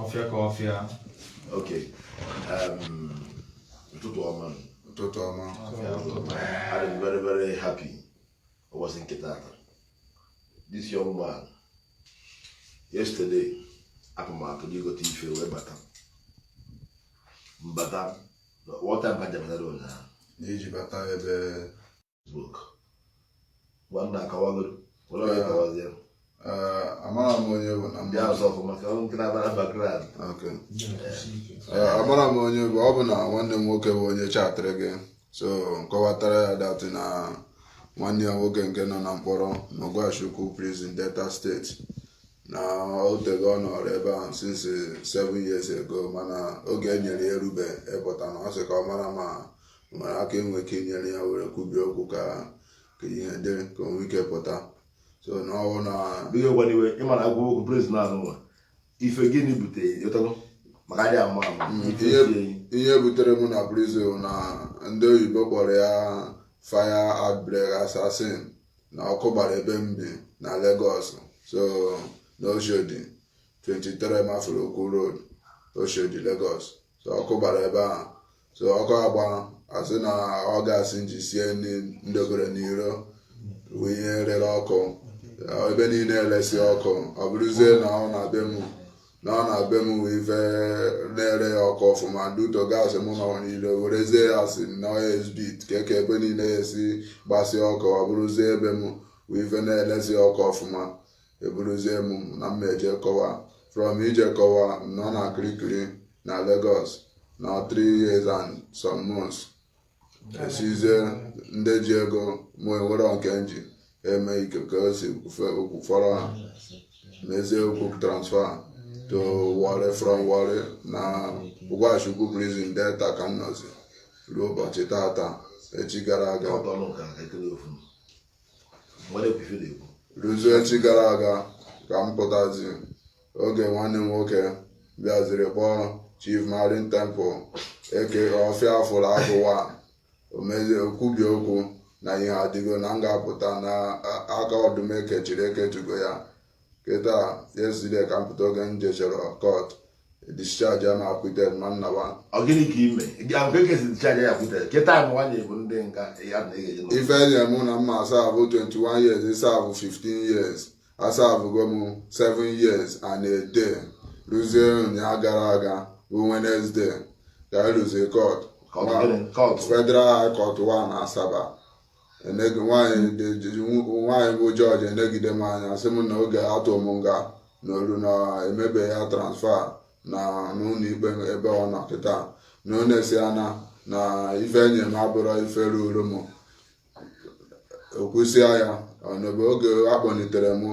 ọfịa ka ọfịa ok um, ụtụtụ ọma ụtụtụ ọma I'm very very happy ụbọchị nke tata this young man yesterday apụ m atụ n'igote ife wee bata mbata wọta mba jabata ụnyaahụ na-eji bata ebe nwanna akọwagoro were onye kọwazie Eh, amara m onye bụ na ndị azụ ọfụma ka ọ nkịta bara background Okay. Eh, amara m onye bụ ọ bụ na nwanne m nwoke bụ onye chatịrị gị so m kọwatara ya that na nwanne ya nwoke nke nọ na mkpọrọ n'Ogwashi-Ukwu prison Delta State na o tego ọ nọrọ ebe ahụ since seven years ago mana oge e nyere ya erube ịpụta na ọ sị ka ọ mara ma nwere aka e nwee ike inyere ya were kwubie okwu ka ka ihe dịrị ka o nwee ike pụta so na ọwụ na dịghị gwa n'iwe ịma na agwa okwu president azụ nwa ife gịnị butere ịtọgo maka adịghị ama ama Mm, ife ihe- sie enyi. ihe butere mụ na prison na ndị oyibo kpọrọ ya fire outbreak assassin na ọkụ gbara ebe m bi na Lagos so na Oshodi 23 Mafoluku Road Oshodi Lagos so ọkụ gbara ebe ahụ so ọkụ agba asị na ọ gas m ji sie nri m debere n'iro bụ ihe rere ọkụ ebe niile eresi ọkụ ọ bụrụzie na ọ na be m na ọ na be m nwee ife na-ere ya ọkụ ọfụma due to gas mụ nọ n'iro werezie ya asị na o spread ka eke ebe niile esi gbasịa ọkụ ọ bụrụzie ebe m nwee ife na-eresi ọkụ ọfụma eburuzie m na m ma-eje kọwa from ije kọwa nọ na Kirikiri na Lagos na 3 years and some months esizie ndị ji ego mụ enwere nke m ji eme ike ka o si kwufọrọ ha mezie okwu transfer to Warri from Warri na Ogwashi-Ukwu prison Delta ka m nọzi ruo ụbọchị tata echi gara aga ruzie echi gara aga ka m pụtazi oge nwanne m nwoke bịaziri kpọọ Chief Marine Temple aka Ọfịa afụrụ agụwa o mezie kwubie okwu na ihe adịgo na m ga-apụta na aka ọdụm ekechiri eketugo ya kịta yesterday ka m pụta oge m jechọrọ court discharge and acquitted ma nna wa ọ gịnị ka ime gị ahụ ka e kesi discharge and acquitted kịta bụ nwaanyị bụ ndị nga ya na ị ga-eji ife enye mụ na m ma-asavụ 21 years ịsavụ 15 years asavụgo m 7 years and a day ruzie ụnyaa gara aga bụ Wednesday ka anyị ruzie court Federal High Court 1 Asaba enegi nwaanyị dị- ji- nw- nwaanyị bụ jọji enegide m anya sị m na oge atụ m nga na olu na emebe ya transfer na n'ụlọ ikpe ebe ọ nọ kịta na ọ na-esi ana na ife enye m abụrọ ife ruru m okwusịa ya ọnọbe oge akpọnitere m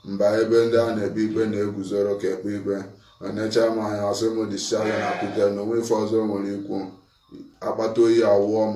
m baa ebe ndị a na-ekpe ikpe na-eguzoro ka ekpe ikpe o necha m anya ọ sị m discharge and acquitted na o nwe ife ọzọ m nwere ikwu akpata oyi awụọ m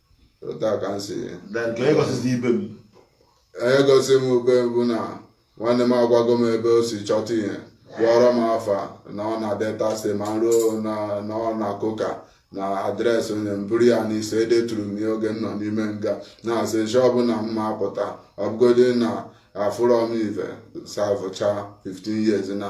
otu a ka m si then ka onye gọzizi ibe m onye gosi m ube bụ na nwanne m agwago m ebe o si chọta ihe gụọrọ m afa na ọ na Delta State ma m ruo na ọ na Koka na address o nye m m buru ya n'isi edeturu m ya oge m nọ n'ime nga na-asị nshi ọbụla m ma apụta ọ bụgodi na afụrọ m ive savụcha 15 years na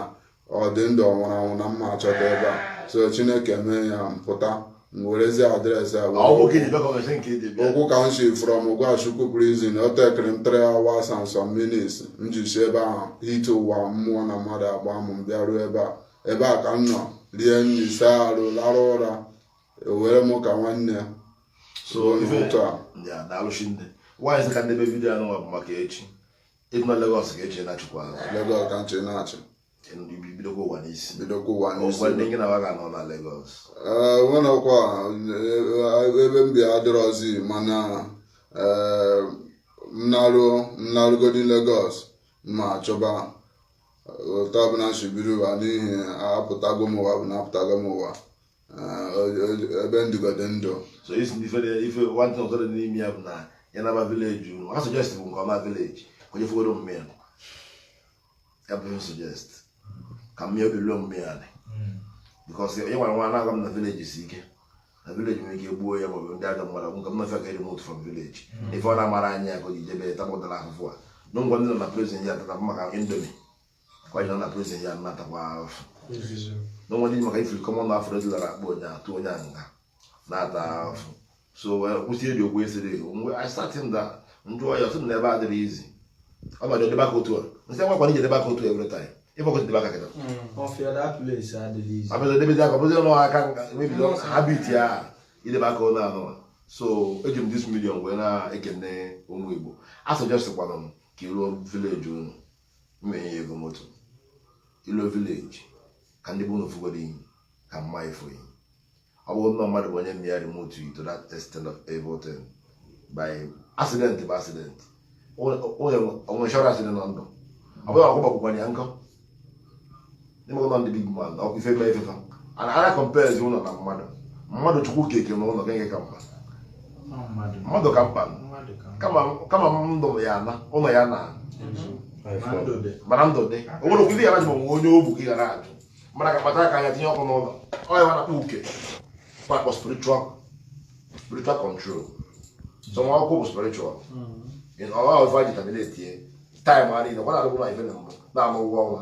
ọ dị ndụ ọ nwụrụ anwụ na m ma achọta ebe a so chineke mee ya m pụta m werezie address a wee- Ọ bụ ka ejebe ka ọ gasị nke ejebe. ụkwụ ka m si from Ogwashi-Uku prison o tekere m 3 hours and some minutes m ji si ebe ahụ hite ụwa mmụọ na mmadụ agba m m bịaruo ebe a ebe a ka m nọ rie nri saa arụ larụ ụra o were m ka nwanne ya So, so ife- n'ụtụ a Ya, daalụ Chineke. Nwaanyị sị ka m debe video anụ nwa bụ maka echi. Ego na Lagos ga-eche na chukwu azụ. Lagos ka nche na-achị. Bidokwa ụwa n'isi. Bidokwa ụwa n'isi. Ọgwa ndị gị na wa ga-anọ na Lagos. Nwenekwa ebe m bi adịrọzi mana m naru m narugodi Lagos m achọba otu ọbụla m shi biri ụwa n'ihi apụtago m ụwa bụ na apụtago m ụwa. ebe m dịgodi ndụ so isi na ife dị- ife one thing ọzọ dị n'ime ya bụ na ya naba village unu ha suggest bụ nke ọma village ka onye fụgoro omume ya ya bụ ihe suggest ka mmiri obi ruo omume ya dị because onye nwere nwa na-agwa m na village si ike na village nwere ike gbuo ya maọbụ ndị ajọ mmadụ nke m na-efe ka remote from village ife ọ na-amarọ anya ya ka o ji jebe tabụtara ahụhụ a na nga ndị nọ na prison ya tata maka indomie Why not prison ya na-atakwa afụfụ. No one maka ifiri kọmọ na afọ dị lara akpọ onye atụ onye nga na-ata afụfụ. So kwụsị ebi okwu esiri mgbe I sat him that m jụọ ya ọ sị m na ebe adịrọ easy. Ọ ma jọdebe aka otu a. M sị nwa kwara ijedebe aka otu a every time. Ife ọkụ jedebe aka kịta. Ọfịa that place adịghị easy. Abịa jedebe aka ọ bụzi ọnụ aka mebi habit ya idebe aka onye anụ. So eji m this medium wee na-ekene ụmụ Igbo. A suggestkwanụ m ka i ruo village unu. m ma-enye yi ego moto ilo village ka ndị be unu fugoro iyi ka mma ifo iyi ọ bụrụ na mmadụ bụ onye mme ya remote to that extent of able thing by accident bụ accident onye chọrọ accident na ndụ ọ bụghị ọkụ gbakwụkwanye ya nga ime ụlọ ndị big man ọkwa ife mee ife fa a na a na-comparezi ụlọ na mmadụ mmadụ chukwu keke na ụlọ gịnị ka mkpa mmadụ ka mkpa kama kama ndụ ya ana ụlọ ya na mana ndụ dị o nwere okwu ife ya na ajụ ma nwe onye ogbu gị gara ajụ mara ka kpata aka ya tinye ọkụ n'ụlọ ọ ya a na-akpọ uke kpakpọ spiritual spiritual control so nwa akwụkwọ bụ spiritual ọha ọfa ji terminate time a niile ọ na-adịbụ na ife na mbụ na-amụ ụgwọ ọnwa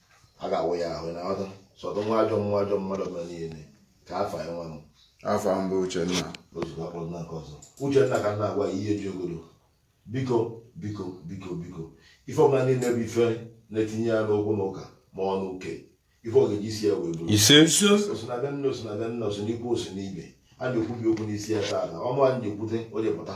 a ga-awụ ya ahụ na ọdụ sọdụ nwa ajọ nwa ajọ mmadụ mere niile ka afa ya nwa m afa m bụ uchenna ozugbo akpọrọ nna nke ọzọ uchenna ka na-agwa ihe ji ogolo biko biko biko biko ife ọbụla niile bụ ife na-etinye ya n'okwu na ụka ma ọ n'uke ife ọ ga-eji isi ya wee buru ise o si na be nna o si na be nna o si n'ikwu o si n'ibe a na-ekwubi okwu n'isi ya taa na ọnụ anyị na-ekwute o jepụta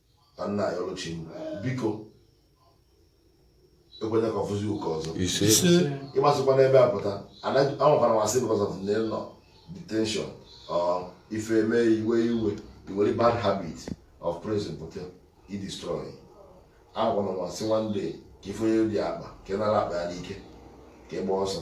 ka nna ya ọlụchi m biko ekwena ka ọ fụzi ụka ọzọ ise ise ị ma sikwa n'ebe a pụta anaghị- anwakwara ma sị because of na ị nọ detention or ife eme i wee i wee i nwere bad habit of prison pụta i destroy anwakwara ma sị one day ka ị fụ onye ji akpa ka ị nara akpa ya n'ike ka ị gba ọsọ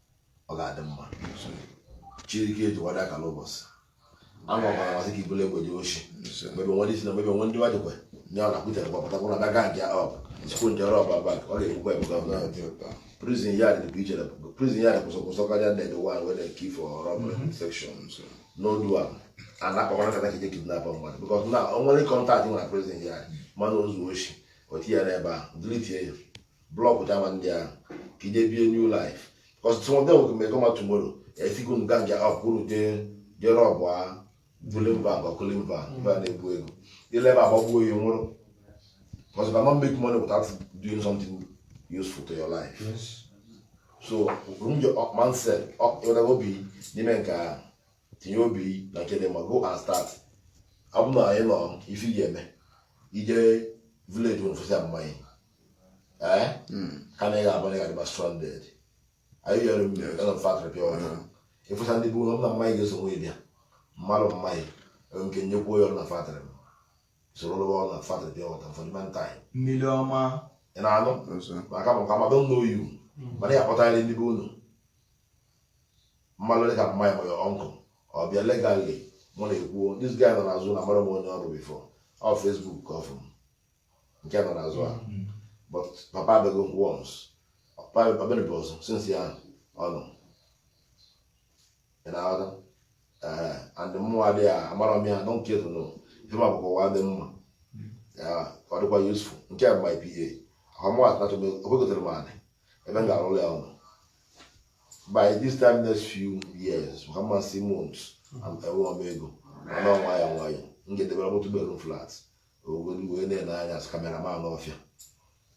ọ ga-adị mma chirike eji wada akala ụbọchị ama ọbara ma sị ka i bule egbe je oshi maybe one disi na maybe one ndị wadikwe nye ọ na-akwụtere kwa pụtakwa na aga gang up nchekwa nje rob a bank ọ ga-ekwukwa ebuka ọbụla prison yard dị iche na prison yard worse worse karịa ndị the one wey dem keep for robbery mm-hmm. section no do am a na-akpakwa nkata ka i je kidnap mmadụ because na o nwere contact nwere prison yard mana o zuo oshi o tinye n'ebe a deletie ya block java ndị ahụ ka i je bie new life because some of them will make come tomorrow a sị gị gang up unu jee jee rob a bullion van bank bullion van na-ebu ego i lu ebe a gbagbuo ya nwụrụ because you cannot make money without doing something useful to your life yes. so remove your up mindset up your obi n'ime nke ahụ tinye obi na nke dị mma go and start ọ bụ na enwerọ ife ị ga-eme i je village nwere fụsịa mama gị ka na ị ga-abụ na ị ga-adịba stranded anyị yọrọ m mere galọ factory pure water ị fụcha ndị bụ ụlọ m na mama gị ga-eso wee bịa mmadụ mama gị enwe m ike nyekwuo ya ọrụ na factory m soro lụwa ọrụ na factory pure water for the meantime mmiri ọma ị na-anụ maka because I don't know you mana ya akpọtara ndị be unu mmadụ dị ka mama gị ma your uncle ọ bịa legally mụ na-ekwuo this guy nọ n'azụ na mara m onye ọ bụ before ọ Facebook ka ọ fụ m nke nọ n'azụ a mm. but papa abịago once papa abịaghị ọzọ since ya ọ nọ ị na-aghọta eh, and mmụọ adịghị amara m ya don't care to know ihe ma bụkwa ụwa dị mma ọ dịkwa useful nke a bụ my PA ọ kwa mụwa atụmatụ m ekwegotere m anị ebe m ga-arụrụ ya ụnọ by this time next few years ha mmasị months enwerọ m ego mana nwayọ nwayọ m ga-edebere m otu bedroom flat ogodi wee na-ele anya as cameraman ọfịa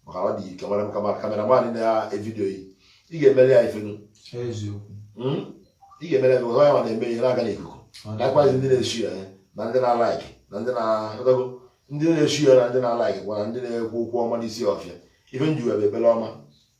maka ọ dị ike nwere m camera cameraman na-evidio yi ị ga-emere ya ifenu hmm? ị ga-emere ya onye ma na-eme ihe na-aga n'ikuku likewise ndị na-eshia ya eh, na ndị na-alaiki na ndị na-edogo ndị na-eshia ya na ndị na-alaikikwa na ndị na-ekwu okwu ọma n'isi ọfịa ife m ji wee bụ ebere ọma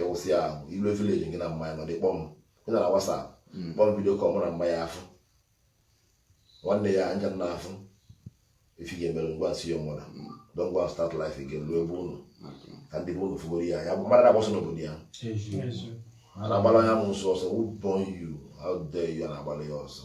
ịwụsị ya ahụ i luo village gị na mama ya nọdị kpọọ m ị nọ na WhatsApp hmm. kpọọ m video call mụ na mama ya afụ nwanne ya anja na afụ ife ị ga-emere ngwa m sị ya nwụra hmm. don't go and start life again ruo be unu ka ndị be unu fugoro ya ya bụ mmadụ na-agba ọsọ n'obodo ya a na-agbara amụsụ ọsọ who born you how dare you na-agbara ya ọsọ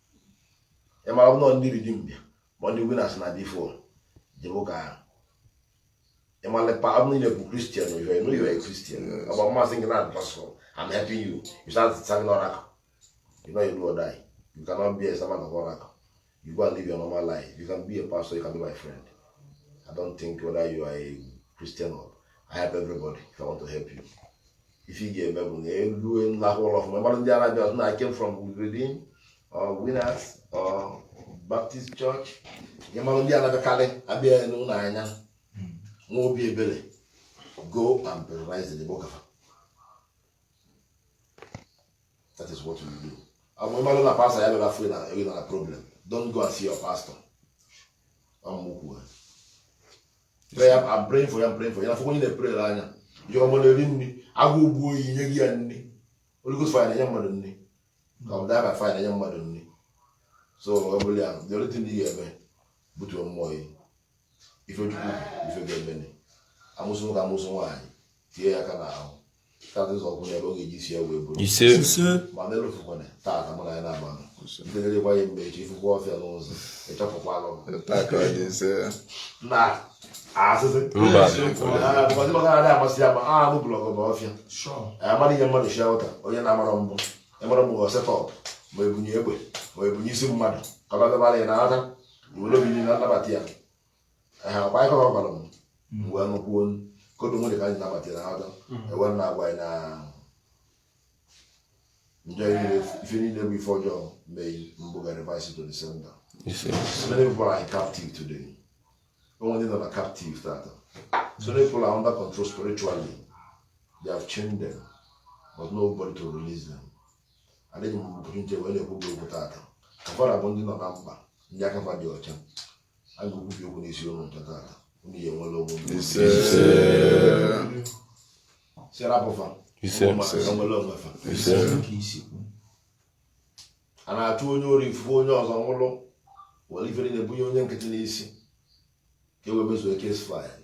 ị mara nọ ndị ridi mbịa ma ndị winas na dị fon jebe ụka ahụ ị mara pa abụ niile bụ kristian oyo enu yo kristian ọ bụ mmasị gị na-adụ pasọ I'm helping you you start serving oracle you know you do or die you cannot be a servant of oracle you go and live your normal life you can be a pastor you can be my friend I don't think whether you are a Christian or I help everybody if I want to help you ife ị ga-eme bụ na elu lahụ ụlọ ọfụma mara ndị na-abịa na I came from Redeem or Winners or Baptist Church ya mara ndị na-abịakarị abịa n'ụlọ anya nwa obi ebere go and baptize the bokafa that is what we do ọmụ ị malụ na pastor ya bịara fri na ego na problem don't go and see your pastor ọmụkwuo praying for you praying for you afọkwa onye na-eprere ya jụọ mmadụ eri nri agụụ gbuo ya nye gị ya nri Holy Ghost fire na-enye mmadụ nri ka ọ bụ die by fire na-enye mmadụ nri so ọ bụla ya the only thing ị ga-eme butuo mmụọ yi ife chukwu ife ga-eme amụsụ nwoke amụsụ nwaanyị tinye ya aka n'ahụ ise ndenyekwa ya mgbe eji ifukwa ọfịa n'ụzọ ịchọpụkwa alụ na asịsị ndị maka adị amasị ya ma anụ blọgụ bụ ọfịa amaghị ihe mmadụ shia ụta onye na-amara mbụ ị mara na ọ bụ setup ma ebunye egbe ma ebunye isi mmadụ ka ọ bịa ya na ata were obi na nnabata ya Ehe, ọkwa ihe ọ gwara m m wee nụkwuo ọnụ. kodu nwere ka anyị nabata na ọdọ ewe m na-agwa anyị na njọ niile ife niile bụ ife ọjọọ mee mbụ ga reverse to the sender Yes, sir. so many people are in captive today o nwe ndị nọ na captive tata so many people are under control spiritually they have chained them but nobody to release them adịghị m opportunity wee na-ekwu gị okwu tata ụfọdụ bụ ndị nọ na mkpa ndị aka fa dị ọcha a ga-ekwubi okwu n'isi unu ncha taata unu ya-enwere onwe unu ise sị rapụ fa Ise. ụmụ mmadụ ya-enwere onwe fa ise ka i si kwu a na-achụ onye ori ifufe onye ọzọ nwụrụ were ifere na-ebunye onye nkịtị n'isi ka e wee mezuo case file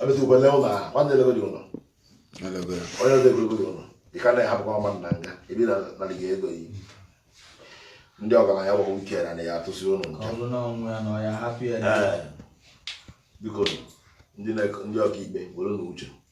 abịazikwa lee ụlọ ahụ nwanne elegodị ụlọ onye ọzọ egologo dị ụlọ ị ka na-ahapụkwa mmadụ na nga e bi na narị gị ego yi ndị ọgaranya gbagbo ike na na ya atụsị ụlọ nke ọ bụrụ na ọnwụ ya na ọ ya hapụ ya Ee. biko ndị na- ndị ọkaikpe were na uche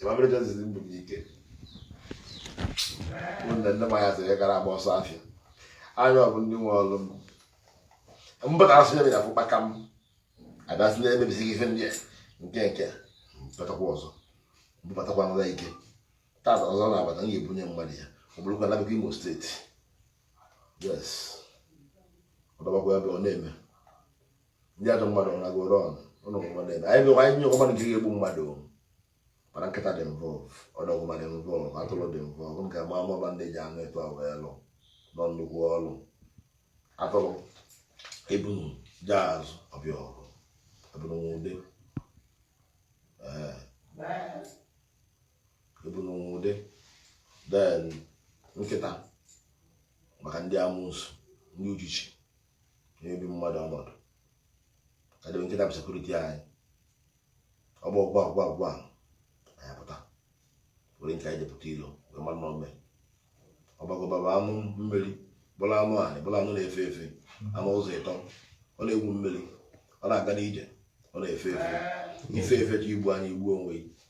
Emabere Joseph mbụ m ike ụmụnne ndị manya sịrị gara agba ọsọ afịa anyị ọ bụ ndị nwe ọrụ m mbụta asụ ya bịara fụkpaka m abịasị na-emebisi gị ife ndị a nke nke pụtakwa ọzọ mbụbatakwa nwa ike tata ọzọ na-abata m ga-ebunye mmadụ ya ọ bụrụkwa na a bịakwa Imo State yes ọ dọbakwa ebe ọ na-eme ndị ajọ mmadụ na goro ọnụ ụlọ ọgwụgwọ na-eme anyị bịakwa anyị nyekwa mmadụ nke ga-egbu mmadụ mana nkịta dị involved ọdọgwụma dị involved atụrụ dị involved nke ma amaba ndị ji anụ etu ahụ wee lụọ nnukwu ọrụ atụrụ ebunu jee azụ ọ bịa ọgụ ebunu nwe ude ee ebunu nwe ude then nkịta maka ndị amusu ndị uchichi na-ebi mmadụ ọnọdụ ka debe nkịta bụ security anyị ọ gbọọ gwa gwa gwa anyị apụta were nke anyị jepụta ilo wee mara na ome ọbọgwụ bụ anụ mmiri bụrụ anụ anị bụrụ anụ na-efe efe anụ ụzọ ịtọ ọ na-egwu mmiri ọ na-aga n'ije ọ na-efe efe i fe efe ka i gbu anyị i gbu onwe gị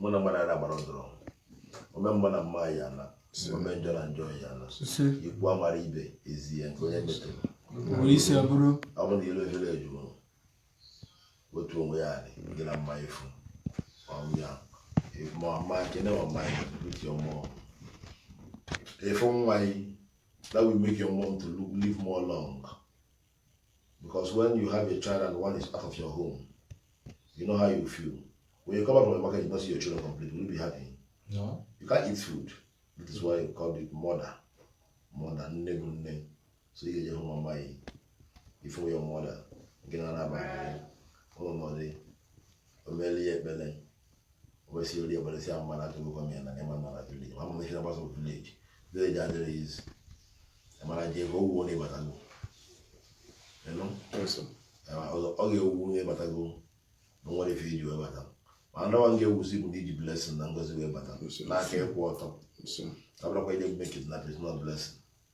mụ na mmadụ ara gbara ọdụrụ ome mma na mma ya na ome njọ na njọ ya na ikwu amara ibe ezi ya nke onye metere ọ bụ na ilu efere ejuo otu onwe ya dị gị na mma efu ọnya ma ọma kene ọma ya uche ọmụọ efu nwa yi that will make your mom to look, live more long because when you have a child and one is out of your home you know how you feel when you come out from the market you don't see your children complete will you be happy no you can't eat food that is why you call it mother mother nne bụ nne so ị ga-eje hụ mama gị ife your mother nke na anaba ụlọ nọdị omeli ya ekpere obesiri ebere si ama na atụrụ gọọmenti na ị ma na village ma mụrụ ihe na-agbasa village village adịrọ easy ịmara ji ego o wuo na ị batago you know ọ ga-ewu na ị batago na e nwere ife i ji wee bata ma ndawa nke ewusi bụ na i ji blessing na ngozi wee bata n'aka ịkwụ ọtọ abụrọkwa i je mee kidnap is not blessing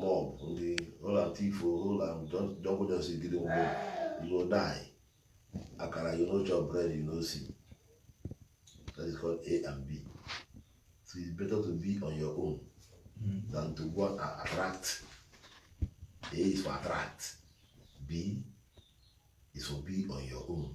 mob ndị ụlọ tifo ụlọ jọbụjọsi gidi mgbe you die akara you no chop bread you no see that is called a and b so it's better to be on your own hmm. than to go and attract a is for attract b is for be on your own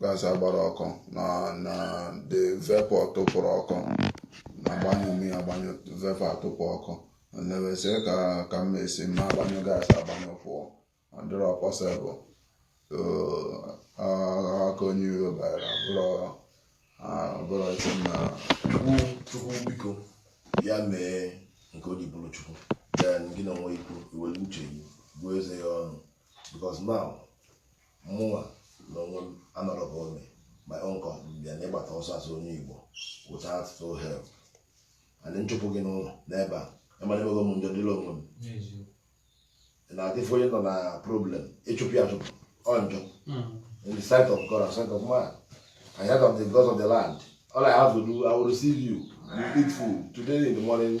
gas agbara ọkụ na na the vapor tụpụrụ ọkụ na agbanyụ m ya agbanyụ vapor atụpụ ọkụ na-ewesị ka ka m esi m agbanyụ gas agbanyụ pụọ ọ dịrọ possible so ah, aka onye iro bara bụrụ ah, bụrụ isi m na Chukwu Chukwu biko ya mee nke o ji bụrụ Chukwu then gị na onwe gị kwu i were uche gị gụọ eze ya ọnụ because now mụnwa na onwe m anọrọ ebe a in my own company bịa na ị gbata ọsọ as onye Igbo without no help and m chụpụ gị n'ụlọ n'ebe a ị mara emego m njọ dịrị onwe m na adị afụ onye nọ na problem ị chụpụ ya achụpụ ọ njọ in the sight of God and sight of man I heard of the gods of the land all I have to do I will receive you you eat food today in the morning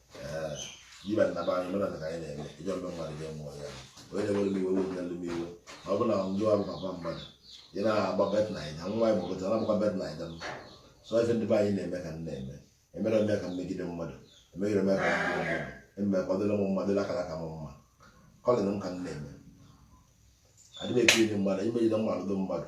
even na be anyị omenala ka anyị na-eme ijọ mbe mmadụ ga mụọ ya onye na-enwere m iwe wepụ yalụ m iwe ma ọ bụ na ndị ọrụ papa mmadụ ị na-agba bet naija nwa ya gbakọta na agbakwa bet naija m so ife ndị be anyị na-eme ka m na-eme emerọ m ka m megide mmadụ emegide ome ka m megide mmadụ eme ka ọ dịrị m mma dịrị akaraka m mma calling m ka m na-eme adịghị emegide mmadụ imegide mmadụ mmadụ